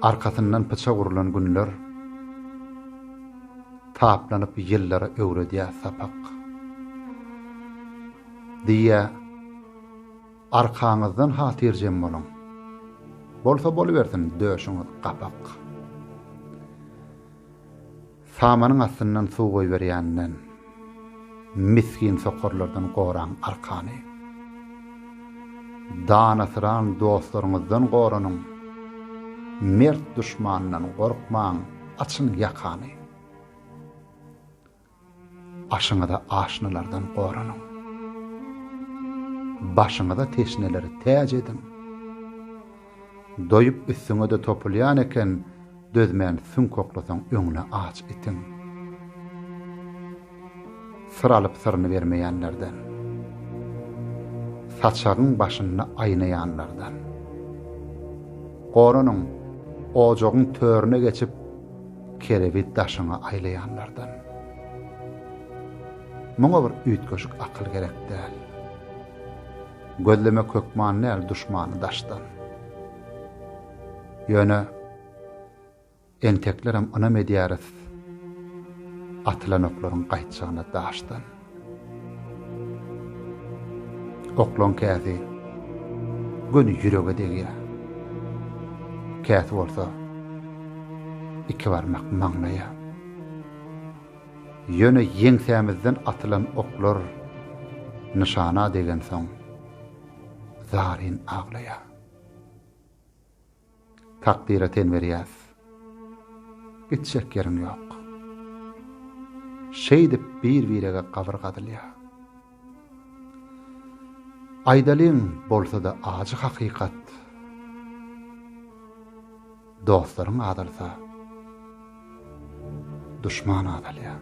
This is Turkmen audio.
Arkasyndan pyçak urlan günler taplanyp ýyllara öwredýär sapak. Diýýär, Arkaňyzdan hatyrjem boluň. Bolsa bolubersin döşüňiz gapak. Samanyň astyndan suw goýberýänden, misgin sokarlardan goraň arkany. Danasyran dostlaryňyzdan goranyň, mert duşmandan gorkmaň, açyň ýakany. Aşyňyza aşnalardan goranyň. Başyňyza teşneleri täç ediň. Doýup üstüňe-de topulýan eken, dözmän süňk oklasaň öňüne aç itiň. Syr alyp syryny bermeýänlerden. Saçagyň başynda aýnaýanlardan. Goranyň, ojagyň törüne geçip, kerebi daşyňa aýlaýanlardan. Muňa bir üýtgeşik akyl gerek däl. Gözlemek hökman däl duşmany daşdan. Ýöne enteklerem ynam edýäris atylan oklaryň gaýtjagyna daşdan. Oklaň käsi göni ýürege degýär. Käsi bolsa iki barmak maňlaýa. Ýöne ýeňsämizden atylan oklar nyşana degensoň, zaryn aglaýas. Takdyra ten berýäs. Gitjek ýeriň ýok. Şeýdip bir-birege gabyr gazylýar. Aýdalyň bolsa-da ajy hakykat, Dostlaryň azalsa, duşman azalýar.